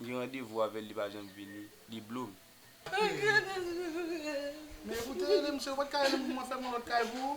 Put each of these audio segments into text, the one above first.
M gen randevou avèl li pa janm vini li blom. Men ou te rele misye ou pat ka relem pou mwen fèm yon lòt kay pou ou.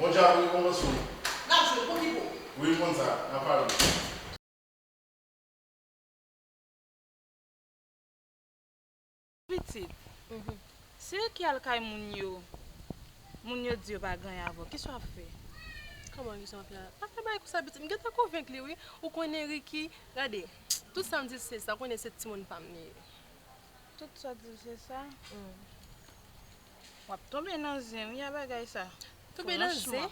Bon dja pou rekonpans nou. Nap jwe pou ki pou. Wi m konn sa. Nap pale. Pitit. Se yo ki al kay moun yo. Moun yo di yo pa gen avè w. Kisa wap fè? Kòman kisa wap fè a? Pa fè bagay konsa pitit. M gentan konvenk li wi. Ou konnen Ricky. Gade. Tout sa m di l se sa. Ou konnen se timoun pa m li ye. Tout sa diw se sa humm. Wap tonbe nan zen wi a bagay sa. Tonbe nan zen?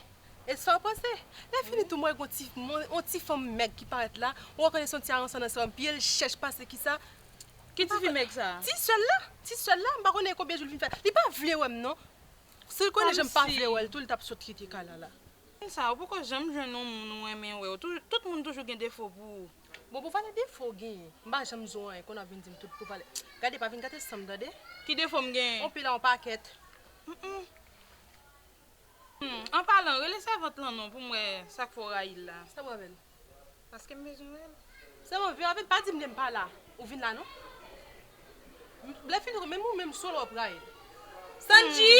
E sa ou panse? Lèfini tou m wè gen yon ti fanm mèg ki parèt la, ou rekonèt se yon ti aransan nan sèl, pye l chèch pase ki sa, Ki tifi mèg sa? Ti sèl la, ti sèl la, m pa konnen konbyen jou li fin fè, li pa vle wè m non, si l konnen jan m pa vle wè l tou li tap sot kite kay la la. Konsa ou poko janm jwenn yon moun ou renmen wè w, tout moun toujou gen defo pou ou. Bon pou pale defo w genyen m pa janm di w anyen kon ap vin di m tout pou pale gade pa vin gate sanm tande Ki defo m genyen? On pila on pakèt Humm. Humm an palan rele sèvant lan non pou m wè sak fè w rayi l la. Sa pou avè l? Paske m bezwen wè l. Sèvant vin avè l pa di m lè m pa la ou vin la non Lè fini menm ou menm solo wap rayi l Sandji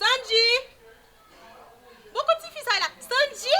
Sandji Bon kot tifi sa ye la Sandji.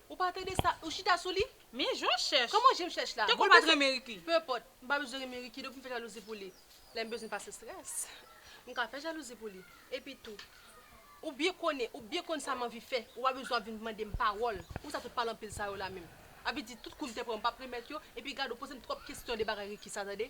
Ou pa tande sa, ou chita sou li? Men je m chèch. Kòman je m chèch la? Te kwè m pa t renmen Ricky? Peu importe, m pa bezwen renmen Ricky depi m fè jalouzi pou li. Lè m bezwen pase strès, m ka fè jalouzi pou li. Epi tou, ou byen konnen, ou byen konn sa m anvi fè, ou pa bezwen ap vin mande m pawòl. Pousa tout pale anpil sa yo la menm? Avedi tout kou m te pran m pa p remèt yo, epi gad ou poze m twòp kesyon de bagay Ricky sa tande.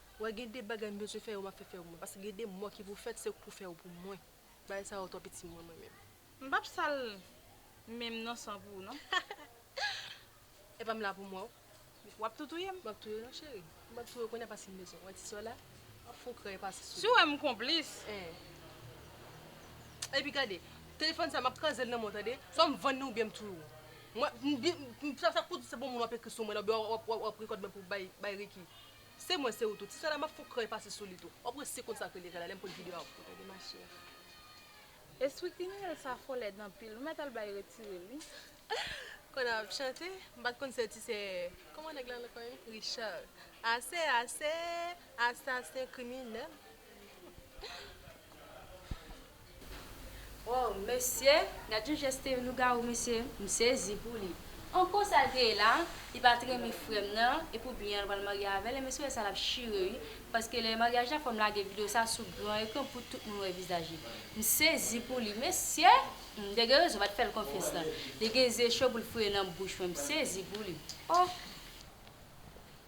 Wè gen de bagay m bezwen fè yo map fè fè mwen paske gen de mò ki pou fèt se ou k pou fè yo pou mwen bagay sa yo twò piti mwen mwen menm. M pap sal menm non san pou ou non. Epa m la pou mwen w. Wap tou touye m. Map touye w non cheri. M pap touye w kounya paske m bezwen w wè ti sè w la ap fon kran epa se sou li. Si w wè m konplis. Eeh. Epi gade telefòn sa map kraze l nan men w tande swa m vann li oubyen m touye w. Mwen m sa pou w di se bon moun wap ekri sou mwen la oubyen wap rekòd mwen pou w bay Ricky. Se mwen se ou tou. Tisana map fon krèy pase sou li tou. Wap wè se konsa ke li rela lèm pote video a pou tande ma chère. Espri kriminèl sa fò lèd anpil nou mèt al bay retire li. Kòne ap chante, m pat konn se ti sè kòman nèg la rele kò li? Richard. Ase ase! Asasen kriminèl. Woww mesye gad yon jès te lougarou mesye m sezi pou li anko sal te ye la li pat renmen frèm nan epi ou byen al pral marye avèl e mesye wè sa lap chire ui paske lè maryaj la fòm lage video sa sou gran ekran pou tout moun wè vizaj li m sezi pou li mesye humm de gen rezon pat fèl konfyans nan li gen ze cho poul foure nan bouch mwen m sezi pou li oh.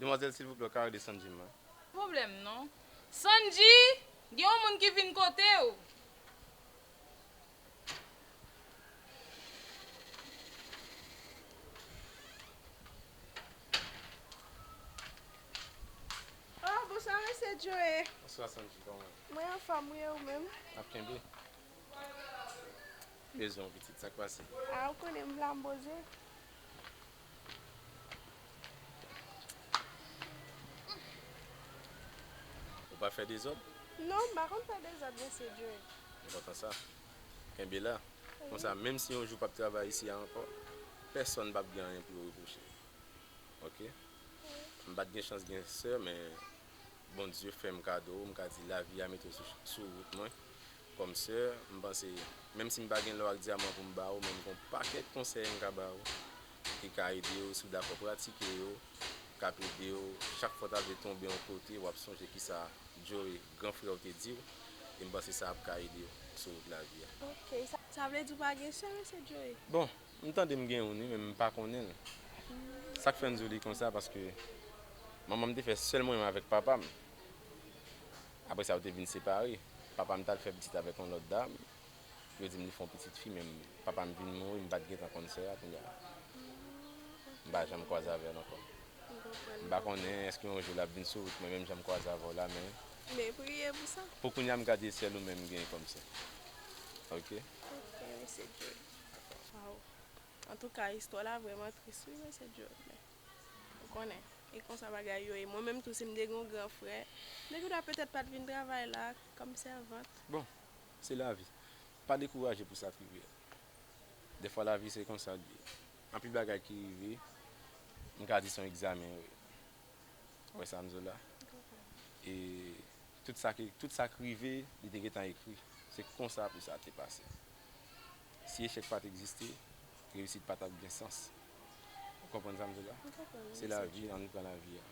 Demwazel silvouplè ou ka redesann jim mwen. Problem non. Sandji gen yon moun ki vin kotew. Oh bonswa mesye Joe. Bonswa Sandji kòman ou. Mwen anfòm wi e ou menm. Nap kenbe. Bezwen ou pitit sak pase. Ah ou konnen m la m poze. Ou pa fè dezòd? Non, m pa konn fè dezòd, Mesye Dre. Mwen kontan sa. Kenbe la. Konsa, menm si yon jou w pap travay isi a ankò, pèsonn pap gen anyen pou yo repwoche. Oke? M pa t gen chans gen sè, men Bondye fè m kado w, m ka di lavi a mete w sou wout mwen, Kòmsè, m panse, menm si m pa gen lò ak dyaman pou m ba ou, men m gen yon pakèt konsèy m ka ba ou ki ka ede ou, si w dakò pratike yo, k ap ede ou chak fwa w ta vle tonbe yon kote, w ap sonje kisa Joe, gran frè w te di ou, e m panse sa ap ka ede ou sou wout lavi a. Ok, sa vle di w pa gen sè, mesye Joe? Bon, m tande m gen youn wi, men m pa konnen l. Sa k fè m di w li konsa, paske manman m te fè sèl mwen menm avèk papa m. Apre sa yo te vin separe. Papa m t al fè pitit avèk yon lòt dam. Yo di m li fè yon pitit fi men papa m vin mouri m pa t gentan konn sè a kounye a. M pa janm kwaze avè l ankò. M pa konnen èske yon jou l ap vin sou wout mwen menm jan m kwaze avè w la men. Men priye pou sa. Pou kounye a m gade sèl ou menm m genyen kòm sè. Ok. Ok mesye Joe. Waw. Antouka istwa la vrèman tris wi mesye Joe men. Ou konnen, e konsa bagay yo ye. Mwen menm tou si m te gen yon gran frè, m te gendwa petèt pa t vin travay la kòm sèvant. Bon, se lavi. Pa dekouraje pou sa k rive. Dèfwa lavi se konsa l ye. Anpil bagay ki rive, m ka di se yon egzamen yo ye. Ou wè sa m di w la? E tout sa k rive, li te gentan ekri. Se konsa pou sa te pase. Si echèk pat egziste, reyisit pa tap gen sans. Ou konprann sa m di w la? M konprann wi, Se mesye lavi, Djo. ann pran lavi a.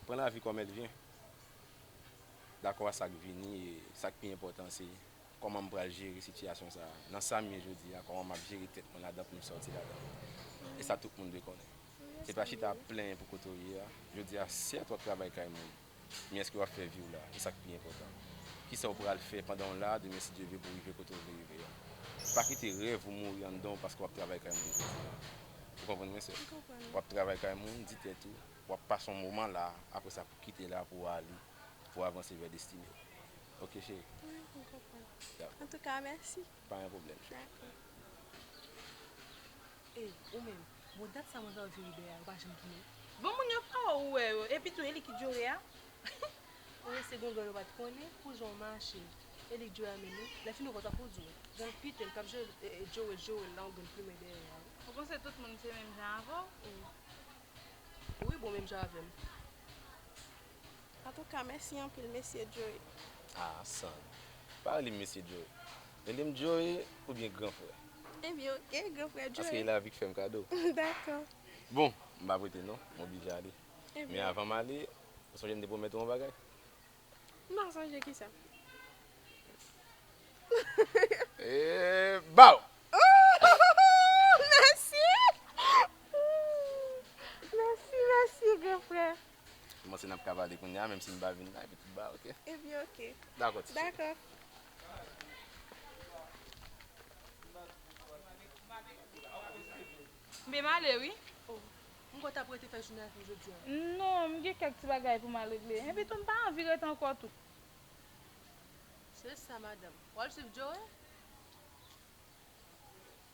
Pran lavi kòm èl vyen. Dakò a sa k vini e sa k pi enpòtan an se kòman m pral jere sitiyasyon sa a. Nan sa m ye jodi a, kòman m ap jere tèt mwen ladan pou m sòti ladan l. E sa tout moun dwe konnen. M E pa chita ap plenyen pou kote w ye a. Jodi a, sèt w ap travay kay moun. men èske w ap fè vi w la? E sa k pi enpòtan, ki sa w pral fè pandan w la demen si Dye vle pou w rive kote w vle rive a? Pa kite rèv ou mouri anndan w paske w ap travay kay moun jodi a. Ou konprann mwen, sè? W ap travay kay moun, di tèt ou, w ap pase yon moman la, apre sa pou w kite la pou w ale, pou w avanse vè destine w. Oke, cheri? Wi, m konprann. Antouka, mèsi! Pa gen pwoblèm cheri. E, ou menm, bon dat sa mwen vè w jwe Iber a, ou pa janm tounen? Bon moun yo pa wè w wè yo, epi tou e li ki Joe a? Ou wè se gangan yo pa t konnen pou jan w mache. E li Joe a menm wi, lè fini w konn sa pou w di w. Jan l pete l, k ap jwe Joe Joe l la, ou gen w plimen dèyè a wi. Ou panse tout moun se menm jan avè w? Wi bon menm jan avè m. Antouka mèsi anpil Mesye Joe. Ah San, pa rele m Mesye Joe, rele m Joe oubyen gran frè. Ebyen ok, gran frè Joe. Paske e lavi k fè m kado. Dakò. Bon, m pa prete non, m oblije ale. Men avan m ale, ou sonje m te pwomèt ou yon bagay? M pa sonje, kisa? Eeeeee baww! Ooh! Mèsi! Ooh! Mèsi, mèsi gran frè. Kòmanse nap ka pale kounya menm si m pa vin la epi tout ba ok. Ebyen ok. Dakò ti chéri. Dakò. M byn ale wi. Oh m kwè w tap rete fè jounen ak nou jodia. Non m gen kèk ti bagay pou m al regle. Epi tou m pa anvi rete ankò tou. Se sa madanm. Wal swiv Joe?